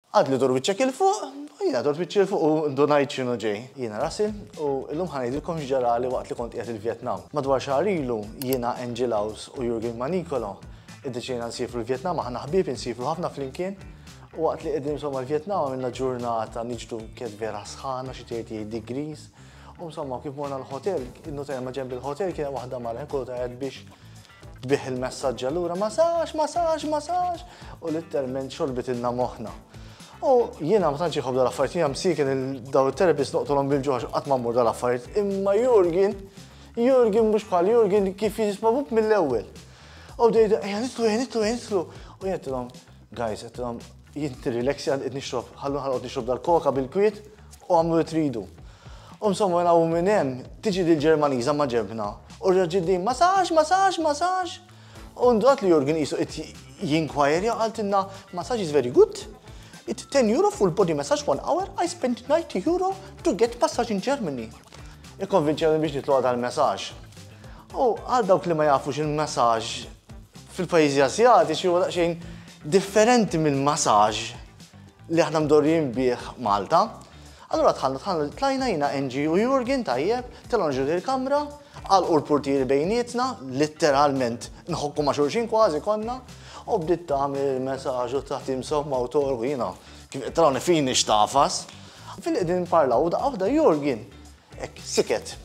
Għad li dur wiċċek 'il fuq, u jiena durt wiċċi 'il fuq u ndunajt x'inhu ġej. Jiena Russell, u llum ħa ngħidilkom x'ġarali waqt li kont qiegħed il-Vjetnam. Madwar xahar ilu, jiena, Angel House u Jurgen Manicolo iddeċidejna nsiefru l-Vjetnam, aħna ħbieb insiefru ħafna flimkien, u waqt li qegħdin insomma l-Vjetnam għamilna ġurnata niġdu kif vera sħana, xi 38 degrees, u insomma kif morna l-hotel, innutajna maġenb il-hotel kien hemm waħda mara ħin kollu tgħajjat biex Tbigħ il-messaġġ allura ma sax, ma sax, ma sax, u litterment xorbit ilna moħħna. U jiena ma tantx iħobb dal-affarijiet, jiena msiken il-daw it-terapist noqtolhom bil-ġuħax qatt ma mmur dal-affarijiet, imma Jurgen, Jurgen mhux bħal Jurgen kif jisma' mill-ewwel. U dejda, ejja nitlu, ejja nitlu, ejja nitlu. U jentilhom, Guys, qed jint nirrileksja qed nixrob, ħallu ħalqod nixrob dal-koka bil-kwiet u għamlu li tridu. U insomma mela u minn hemm tiġi dil Ġermaniża ma ġebna. U rġiddi ma sax, ma sax, ma sax. U ndrat li Jurgen qisu qed jinkwajrja għaltinna massage is very good. It's 10 euro full body massage one hour, I spent 90 euro to get massage in Germany. Ikkonvinċjoni biex nitlu għadha l-messaġġ. U għal dawk li ma jafux il-massage fil-pajjiżi Asjatiċi huwa daqsxejn differenti mill-massage li aħna mdorrijin bih Malta. Allura tħallna tħallna tlajna jina Enġi u Jurgen tajjeb, telgħu nġu il-kamra, għal u l-portieri bejnietna, litteralment nħokku ma' xulxin kważi konna, u bdiet tagħmel il-messaġġ u taħt imsomma u torgu jiena kif telgħu nifini xtafas. Fil-qegħdin parlaw u daqqa waħda Jurgen Hekk, siket.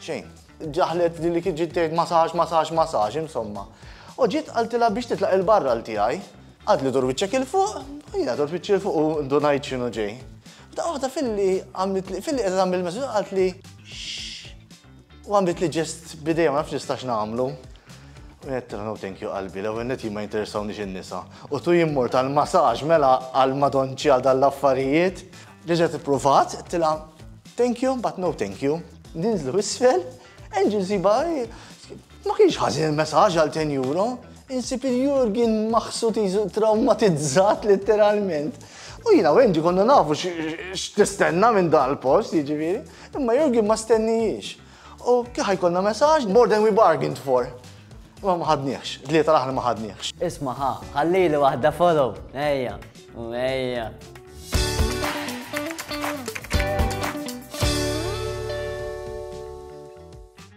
Xejn. Ġaħlet li li kiġi tgħid masaġ, masaġ, masaġ, insomma. U ġiet qaltilha biex titlaq il-barra l tiegħi. Għad li dur wiċċek il fuq, u jiena dur wiċċi il fuq u ndunajt x'inhu ġej. Da waħda filli għamlet li filli qed tagħmel messaġġ qalt li u għamlet li ġest bidejja ma nafx nistax nagħmlu. U jett no thank you qalbi, l ewwel neti ma jinteressawniex in-nisa. U tu jimmur tal-masaġ mela għal madonċi għal dal-affarijiet. Reġgħet ippruvat, qedtilha thank you but no thank you. Ninżlu isfel, Angel siba ma kienx ħażin il-messaġġ għal 10 euro. Insib il-Jurgen maħsud traumatizzat letteralment. U jina u Angie konna nafu x'tistenna minn dan il-post, jiġifieri, imma Jurgen ma stennijiex. U kif ħajkolna messaġġ more than we bargained for. Imma ma ħadniex, tlieta l-aħħar ma ħadniex. Isma' ħa, ħallili waħda follow. Ejja, u ejja.